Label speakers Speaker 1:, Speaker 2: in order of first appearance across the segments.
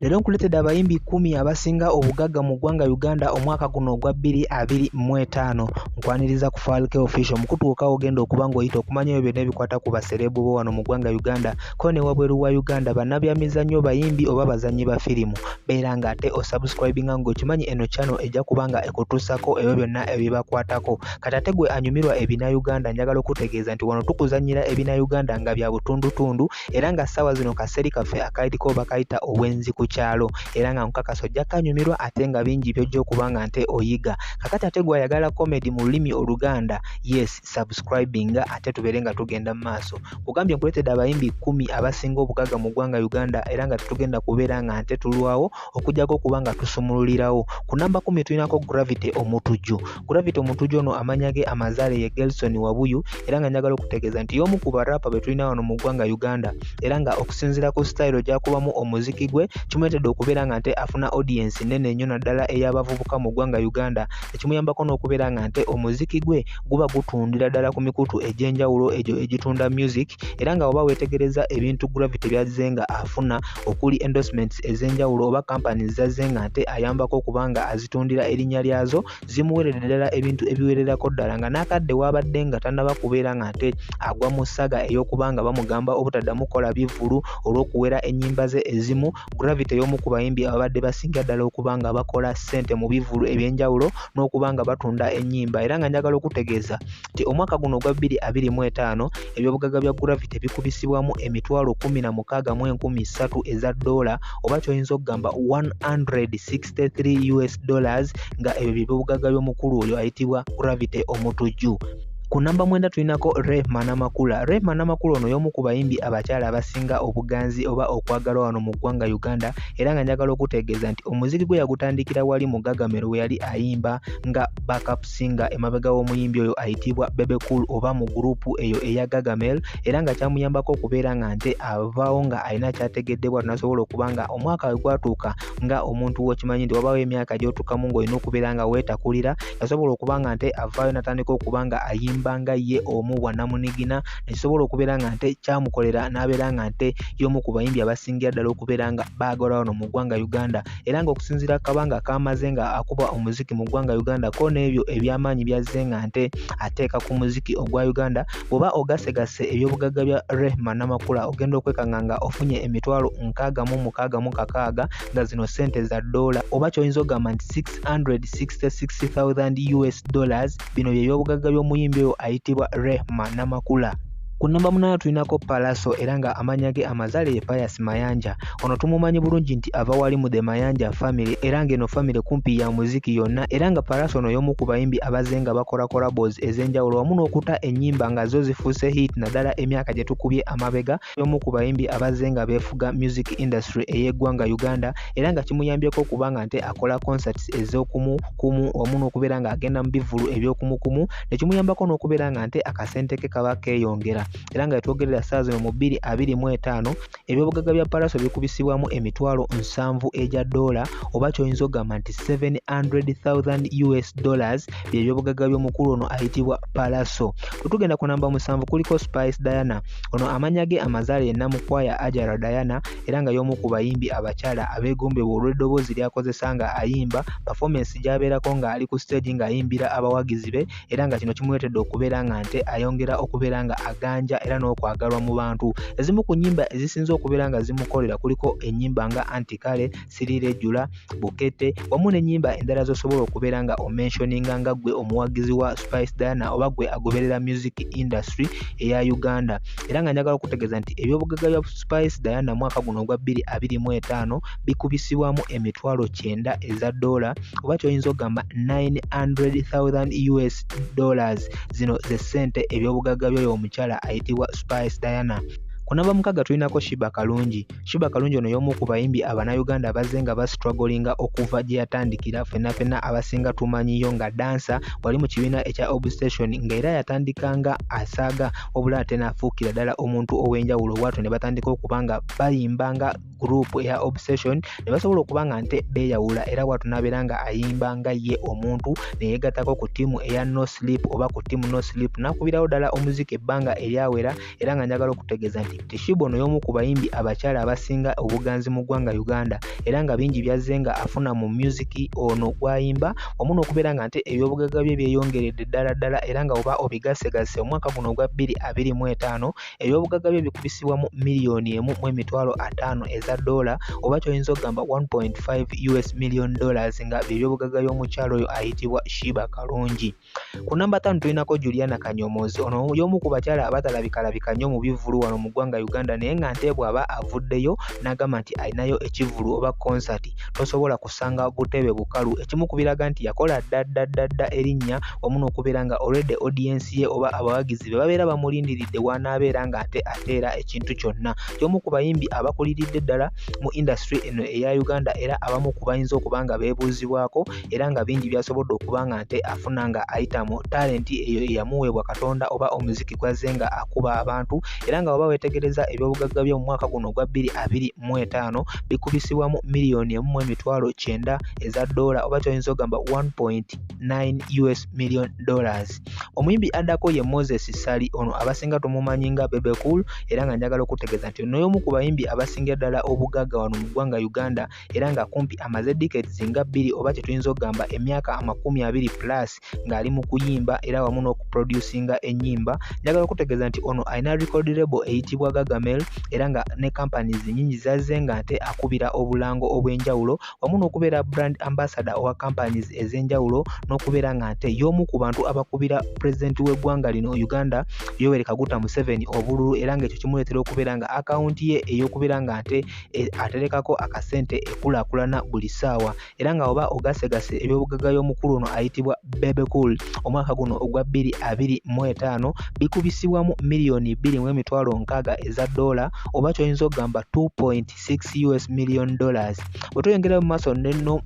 Speaker 1: Leero nkuleetedde abayimbi kkumi abasinga obugagga mu ggwanga Uganda omwaka guno ogwa bbiri abiri mu etaano. Nkwaniriza ku Falke Official omukutu gwokka ogenda okuba ng'oyita okumanya ebyo byonna ebikwata ku basereebu bo wano mu ggwanga Uganda ko ne wabweru wa Uganda, bannabyamizannyo, bayimbi oba bazannyi ba firimu. Beera ng'ate osubscribinga ng'okimanyi eno channel ejja kuba nga ekutuusako ebyo byonna ebibakwatako. Kati ate gwe anyumirwa ebinayuganda njagala okutegeeza nti wano tukuzannyira ebinayuganda nga bya butundutundu era nga ssaawa zino kaseeri kaffe akaliko bakayita obwenzi ku kyalo era nga nkukakasa ojja kanyumirwa ate nga bingi byojja okuba nga nte oyiga kakati ate gwayagala comedy mu lulimi oluganda yes subscribing ate tubeere nga tugenda mu maaso kugambye nkuleetedde abayimbi kumi abasinga obugagga mu ggwanga uganda era nga tetugenda kubeera nga nte tulwawo okujjako okuba nga tusumululirawo ku namba kumi tulinako gravity omutujju Gravity Omutujju ono amanya ge amazaale ye Gelson Wabuyu era nga njagala okutegeeza nti y'omu ku barapa be tulina wano mu ggwanga Uganda era nga okusinziira ku sitayiro gy'akubamu omuziki gwe kimuleetedde okubeera nga nte afuna odiyensi nnene nnyo naddala ey'abavubuka mu ggwanga Uganda ekimuyambako n'okubeera nga nte omuziki gwe guba gutundira ddala ku mikutu egy'enjawulo egyo egitunda music era nga oba weetegereza ebintu gravity byazze nga afuna okuli endorsements ez'enjawulo oba kampani zazze nga nte ayambako okuba nga azitundira erinnya lyazo zimuweerera ddala ebintu ebiwererako ddala nga n'akadde waabadde nga tannaba kubeera nga nte agwa mu ssaga ey'okuba nga bamugamba obutaddamu kukola bivvulu olw'okuwera ennyimba ze ezimu Gravity y'omu ku bayimbi ababadde basinga ddala okuba nga bakola ssente mu bivvulu eby'enjawulo n'okuba nga batunda ennyimba era nga njagala okutegeeza nti omwaka guno ogwa bbiri abiri mu etaano ebyobugagga bya Gravity bikubisibwamu emitwalo kkumi na mukaaga mu enkumi ssatu eza ddoola oba ky'oyinza okugamba 106 63 us dollars nga ebyo byebyobugagga by'omukulu oyo ayitibwa gravity omutujju ku namba mwenda tulinako rehma namakula rehma namakula ono y'omu ku bayimbi abakyala abasinga obuganzi oba okwagalwa wano mu ggwanga uganda era nga njagala okutegeeza nti omuziki gwe yagutandikira wali mu gagamero we yali ayimba nga backup singer emabega w'omuyimbi oyo ayitibwa bebe cool oba mu gurupu eyo eya gagamel era nga kyamuyambako okubeera nga nte avaawo nga alina kyategeddebwa tunasobola okuba nga omwaka we gwatuuka nga omuntu wokimanyi nti wabawo emyaka gyotukamu ngaolina okubeera nga wetakulira yasobola okuba nga nte avaayo natandika okuba nga ayimba nga ye omu bwanamunigina nekisobola okubeera nga nte kyamukolera nabeera nga nte yomu ku bayimbi abasingira ddala okubeera nga baagala wano mu ggwanga uganda era nga okusinzira kabanga kamaze nga akuba omuziki mu ggwanga uganda ko n'ebyo ebyamaanyi byazze nga nte ateeka ku muziki ogwa uganda Bw'oba ogasegasse ebyobugagga bya Rehma Namakula ogenda okwekanga nga ofunye emitwalo nkaaga mu mukaaga mu kakaaga nga zino ssente za ddoola oba ky'oyinza ogamba nti 666,000 US dollars bino bye byobugagga by'omuyimbi oyo ayitibwa Rehma Namakula. Ku nnamba munaana tulinako Pallaso era nga amannya ge amazaale ye Pius Mayanja. Ono tumumanyi bulungi nti ava wali mu The Mayanja family era ng'eno family kumpi ya muziki yonna era nga Pallaso ono y'omu ku bayimbi abazze nga bakola collabos ez'enjawulo wamu n'okuta ennyimba nga zo zifuuse hit naddala emyaka gye tukubye amabega y'omu ku bayimbi abazze nga beefuga music industry ey'eggwanga Uganda era nga kimuyambyeko okuba nga nte akola concerts ez'okumu kumu wamu n'okubeera ng'agenda mu bivvulu eby'okumukumu ne kimuyambako n'okubeera nga nte akasente ke kaba keeyongera era nga yetwogerera ssaawa zino mu bbiri abiri mu etaano ebyobugagga bya palaso bikubisibwamu emitwalo nsanvu egya doola oba kyoyinza okugamba nti 700000 us dollars byebyobugagga by'omukulu ono ayitibwa palaso wetugenda ku namba musanvu kuliko spice diana ono amanya ge amazaale yenna mukwaya ajara diana era nga y'omu ku bayimbi abakyala abeegombebwa olw'eddoboozi lyakozesa nga ayimba pafomance gyabeerako ng'ali ku siteegi ng'ayimbira abawagizi be era nga kino kimuleetedde okubeera nga nte ayongera okubeera nga aganja era n'okwagalwa mu bantu ezimu ku nyimba ezisinze okubeera nga zimukolera kuliko enyimba nga antikale sirirejula bukete wamu n'enyimba endala zosobola okubeera nga omenshoninga nga gwe omuwagizi wa spice diana oba gwe agoberera music industry eya uganda era nga njagala okutegeeza nti ebyobugagga bya spice diana mwaka guno ogwa 225 bikubisibwamu emitwalo 9 eza doola oba kyoyinza okugamba 900,000 us dollars zino ze ssente ebyobugagga byoyo omukyala ayitibwa spice diana kunamba mukaga tulinako shiba kalungi shiba kalungi ono yomu ku bayimbi abanauganda abazze nga bastrugglinga okuva gye yatandikira fenna fenna abasinga tumanyiyo nga dansa wali mu kibiina ekya obstation nga era yatandika nga asaaga obula ate nafuukira ddala omuntu ow'enjawulo bwatyo ne batandika okuba nga bayimba nga group eya obsession ne basobola okuba nga nte beeyawula era bwatu n'abeera nga ayimba nga ye omuntu ne yeegattako ku ttiimu eya no sleep oba ku ttiimu no sleep n'akubirawo ddala omuziki ebbanga eryawera era nga njagala okutegeeza nti tishiba ono y'omu ku bayimbi abakyala abasinga obuganzi mu ggwanga uganda era nga bingi byazze nga afuna mu myuziki ono gwayimba omu n'okubeera nga nte ebyobugagga bye byeyongeredde ddala ddala era nga oba obigassegasse omwaka guno ogwa bbiri abiri mu etaano ebyobugagga bye bikubisibwa mu miliyoni emu mu emitwalo ataano eza doola oba kyoyinza okugamba 1.5 us million dollars nga byebyobugagga y'omukyalo oyo ayitibwa shiba kalungi ku namba tano tulinako juliana kanyomoozi ono y'omu ku bakyala abatalabikalabika nnyo mu bivvulu wano mu ggwanga uganda naye nga nte bw'aba avuddeyo n'agamba nti alinayo ekivvulu oba konsati tosobola ku okusanga ogutebe bukalu ekimu ku biraga nti yakola ddaddadda erinnya wamu n'okubeera nga olwedde odiyensi ye oba abawagizi be babeera bamulindiridde wanaabeera nga ate ateera ekintu kyonna y'omu ku bayimbi abakuliridde ddala mu indasitule eno eya uganda era abamu ku bayinza okuba nga beebuuzibwako era nga bingi byasobodde okuba nga nte afuna nga ayita mu talenti eyo eyamuweebwa katonda oba omuziki gwazze nga akuba abantu era nga waba weetegereza ebyobugagga by'omumwaka guno ogwa 225 likubisibwamu miliyoni emu mu emitwalo kyenda eza doola oba kyoyinza ogamba 1.9 us million dollars omuyimbi addako ye moses sali ono abasinga tumumanyi nga bebecool era nga njagala okutegeeza nti ono y'omu ku bayimbi abasingira ddala obugagga wano mu ggwanga uganda era nga kumpi amaze decades nga bbiri oba kyetuyinza okugamba emyaka amakumi abiri plus ng'ali mu kuyimba era wamu n'okuproducinga ennyimba njagala okutegeeza nti ono alina record label eyitibwa gagamel era nga ne companies nyingi zazze nga nte akubira obulango obw'enjawulo wamu n'okubeera brand ambassador owa companies ez'enjawulo n'okubeera nga nte y'omu ku bantu abakubira president w'eggwanga lino uganda yoweri kaguta museveni obululu era ng'ekyo kimuleetera okubeera nga akawunti ye ey'okubeera nga nte e, aterekako akasente ekulakulana buli ssaawa era nga oba ogasegase ebyobugagga y'omukulu ono ayitibwa Bebe Cool omwaka guno ogwa bbiri abiri mu etaano bikubisibwamu miliyoni bbiri mu emitwalo nkaaga eza doola oba kyoyinza okugamba 2.6 us million dollars bwe tweyongera mu maaso nenno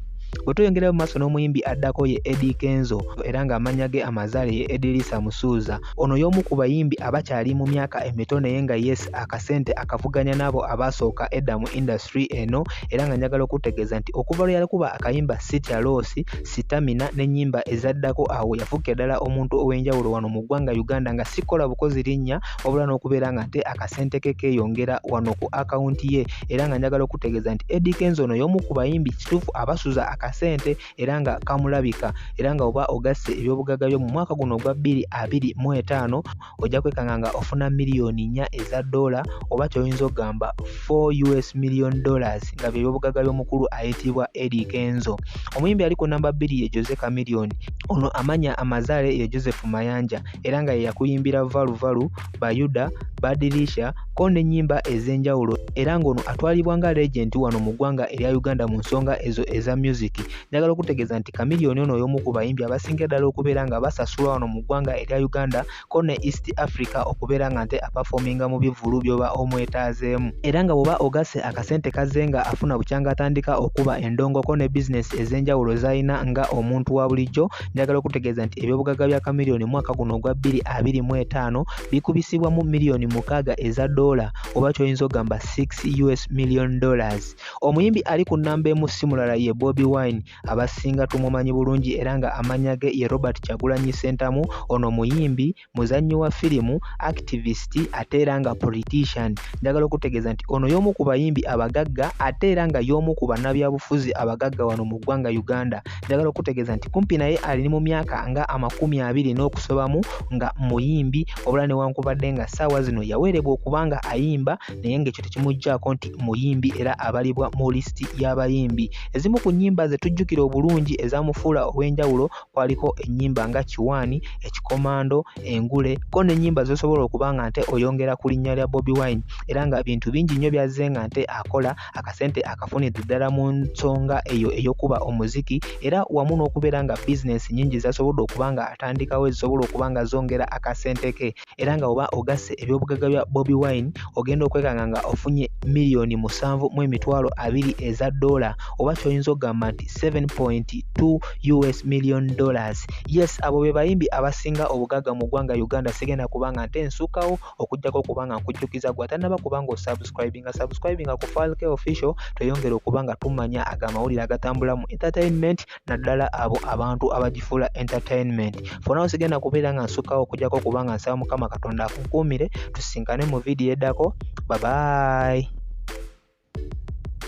Speaker 1: bwe tweyongera mu maaso n'omuyimbi addako ye Eddie Kenzo era ng'amannya ge amazaale ye Edirisa Musuuza Ono y'omu ku bayimbi abakyali mu myaka emito naye nga yes akasente akavuganya n'abo abaasooka edda mu industry eno era nga njagala okutegeeza nti okuva lwe yalikuba akayimba Sitya Loss, Sitamina n'ennyimba ezaddako awo yafuuka ddala omuntu ow'enjawulo wano mu ggwanga Uganda nga sikola bukozi linnya wabula n'okubeera nga nte akasente ke keeyongera wano ku akawunti ye era nga njagala okutegeeza nti Eddy Kenzo ono y'omu ku bayimbi kituufu abasuza akasente era nga kamulabika era nga oba ogasse ebyobugagga byo mu mwaka guno ogwa bbiri abiri mu etaano ojja kwekanga nga ofuna miliyoni nnya eza doola oba kyoyinza okugamba 4 us million dollars nga byebyobugagga by'omukulu ayitibwa edi kenzo omuyimbi ali ku namba bbiri ye jose camilioni ono amanya amazaale ye joseph mayanja era nga yeyakuyimbira valuvalu Bayuda, Badilisha ko n'ennyimba ez'enjawulo era ng'ono atwalibwa nga legenti wano mu ggwanga erya Uganda mu nsonga ezo eza music. Njagala okutegeeza nti Chameleone ono y'omu ku bayimbi abasingira ddala okubeera nga basasulwa wano mu ggwanga erya Uganda ko ne East Africa okubeera nga nte apafominga mu bivvulu by'oba omwetaazeemu. Era nga bw'oba ogasse akasente kazze nga afuna bukyanga atandika okuba endongoko ne bizinesi ez'enjawulo z'alina nga omuntu wa bulijjo njagala okutegeeza nti ebyobugagga bya kamiliyoni mwaka guno ogwa 2025 bikubisibwa mu miliyoni mukaaga eza doola oba kyoyinza ogamba 6 us million dollars omuyimbi ali ku nnamba emu si mulala ye bobi wine abasinga tumumanyi bulungi era nga amanya ge ye robert kyagulanyi sentamu ono muyimbi muzannyi wa firimu, activist ate era nga politician. Njagala okutegeeza nti ono y'omu ku bayimbi abagagga ate era nga y'omu ku bannabyabufuzi abagagga wano mu ggwanga Uganda. Njagala okutegeeza nti kumpi naye ali mu myaka nga amakumi abiri n'okusobamu nga muyimbi obula newankubadde nga ssaawa zino yawerebwa okuba nga ayimba naye ng'ekyo tekimuggyako nti muyimbi era abalibwa mu lisiti y'abayimbi. Ezimu ku nnyimba ze tujjukira obulungi ezamufuula ow'enjawulo kwaliko ennyimba nga kiwaani ekikomando engule ko n'ennyimba z'osobola okuba nga nte oyongera ku linnya lya bobi wine era nga bintu bingi nnyo byazze nga nte akola akasente akafunidde ddala mu nsonga eyo ey'okuba omuziki era wamu n'okubeera nga bizinensi nnyingi zasobodde okuba nga atandikawo ezisobola okuba nga zongera akasente ke era nga oba ogasse ebyobugagga bya bobi wine ogenda okwekanga nga ofunye miliyoni musanvu mu emitwalo abiri eza dola oba kyoyinza okugamba nti 7.2 us million dollars yes abo be bayimbi abasinga obugagga mu ggwanga uganda sigenda kubanga nte nsukawo okujjako okuba nga nkujjukiza gwe atanaba kubanga osubscribinga subscribinga ku falke official tweyongere okuba nga tumanya ago amawulire agatambula mu entertainment naddala abo abantu abagifuula entertainment fona sigenda kubeera nga nsukkawo okujjako okuba nga nsaba mukama katonda akunkuumire tusinkane mu vidiyo eddako babayi